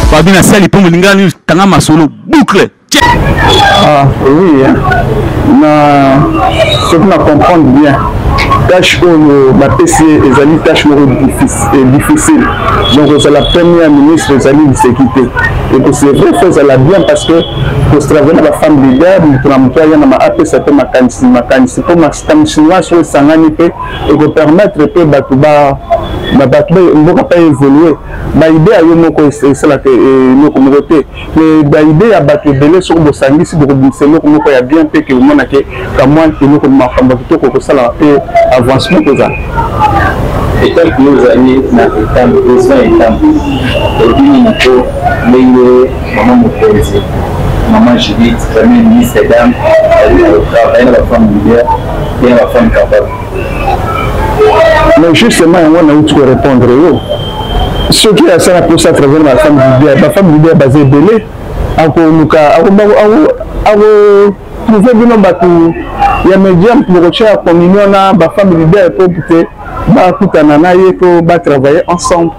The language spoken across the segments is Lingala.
Fabi na sali po molinga ni tanga masolo boucle. Ah oui hein. Na soki na comprendre bien tâche oyo bapesi ye ezali tâche moko eh, difficile donc ozala premier ministre ezali liseki te ekosevre fo ezala bien parce que kostravai na bafemme leader moto na moto aya na apesa mpe makanisi makanisi mpo makanisi nyonso oyo esangani mpe ekopermettre mpe bato ba bato mboka mpe evolue baide ya yo moko esalaka e, eloko moko te me baide ya bato ebele soki bosangisi bokobimisa eloko moko ya bien mpe keomonake kamwa eloko makambo ya kitoko kosala mpe avancement kozala etango yo ozali na etango eza etango ebini moko ndenge mama mokonzi mama judith premier ministre dame baye na bafemme leader mpe na bafemme capable mais justement yango nauti korépondre yo soki asala mposa travers na bafemme libia bafemme libia baza ebele akoluka akoprouve bino bato ya média mpo bokotya communion na bafemme libia mpo te bakutana na ye mpo batravaille ensemble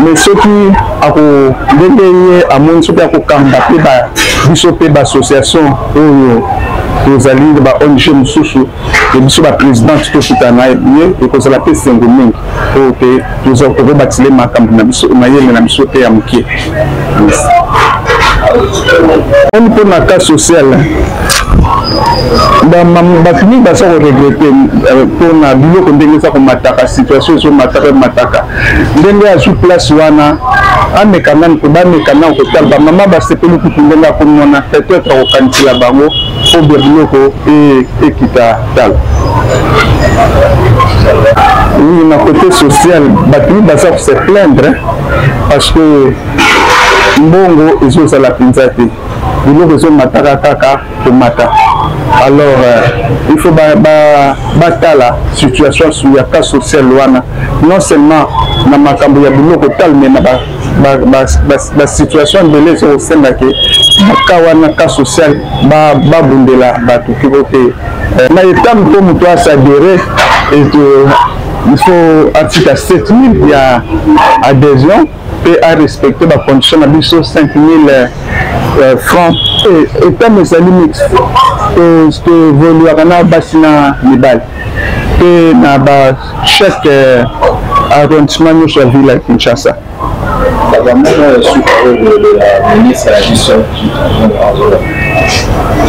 mais soki ako ndenge ye amoni soki akokamba mpe biso mpe baassociation oyo tozali na ba ong mosusu ya biso baprésidente tofuta na ye ekozala mpe esengo mingi oyo mpe tokobatile makambo na biso mayele na biso mpe ya moke mpo na cas social bato mingi baza koregrete euh, mpo na biloko ndenge eza komataka situation ezomataka emataka ndenge azwi place wana ameka nani mpo bameka nani kotala bamama basepeli kutu ndenge akomi wana peut-être akokanisela bango mpo bya biloko e, ekita tala oui na côté social bato mingi baza kose plaindre parce que mbongo ezozala mpenza te biloko ezomataka kaka komata alors euh, il faut batala ba, ba situation ya cas social wana non seulement na makambo ya biloko talo me na basituation ebele ezokosenga ke ka wana cas social babundela bato kiko te euh, na etambe mpo moto asadere eto il faut atika 7000 ya adhésion mpe arespecte bacondition na biso 5000 euh, franc etam ezali mix toevoluaka na basi na mibali mpe na bachèque euh, arrondissement nyonso ya ville ya kinshasa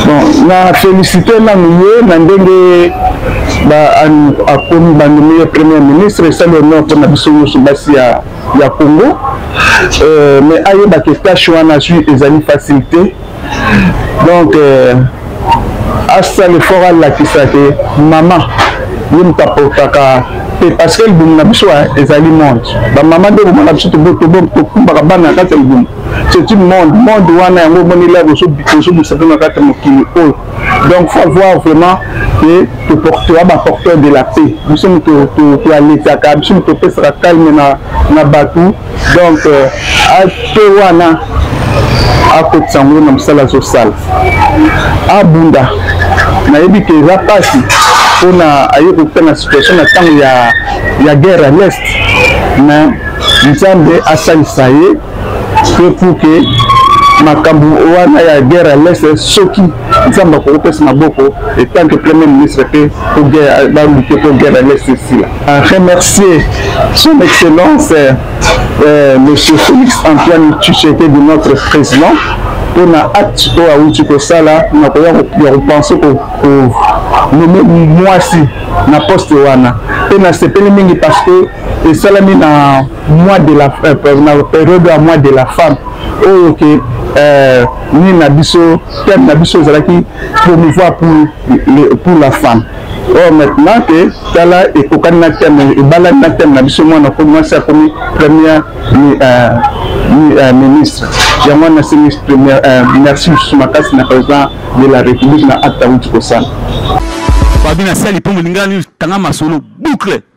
bon na félicité nanu ye na ndenge akomi bandimi ye premier ministre esali honor mpona biso nyonso basi ya, ya congo euh, mais ayebaka etashe wana azwi ezali facilité donc euh, asala effort alakisa te mama ye moto aportaka te parce que libumu na biso ezali monde bamama nde bomona biso tokumbaka bana na kati ya libumu c'est une monde monde wana yango omoneli ya bozobisa mpe na kati ya mokili oyo donc faut voir vraiment ke toportera baporteur de la paix biso moto toaletaka biso moto topesaka calme na bato donc ate euh, wana akotisa ngo na mosala azosala abunda nayebi ke eza mpasi mpona aye kokuta na situation na ntango ya, ya guerre ya l'est mais nzambe asalisa ye mpe pour ke makambo wana ya guerre ya l'est soki nzambe akokopesa maboko etant que premier ministre mpe balute mpo guerre ya leste esila remercier son excellence euh, monsieur félix antoine tshisekedi de notre président mpo na acte oyo awuti kosala na koya ya kopense nommer mwasi na poste wana mpe nasepeli mingi parce que esalami na mois de la euh, na période ya mois de la femme oyo ke euh, nini na biso thème na biso ezalaki promouvoir pour, pour la femme or oh, maintenant ke tala ekokani na thème ebalani na thème na biso mwana ko mwasi akomi première euh, euh, ministre yango wana nasengi première euh, merci mosusu makasi na président de la république na acte awuti kosala babi na sali mpo molingani tanga masolo boucle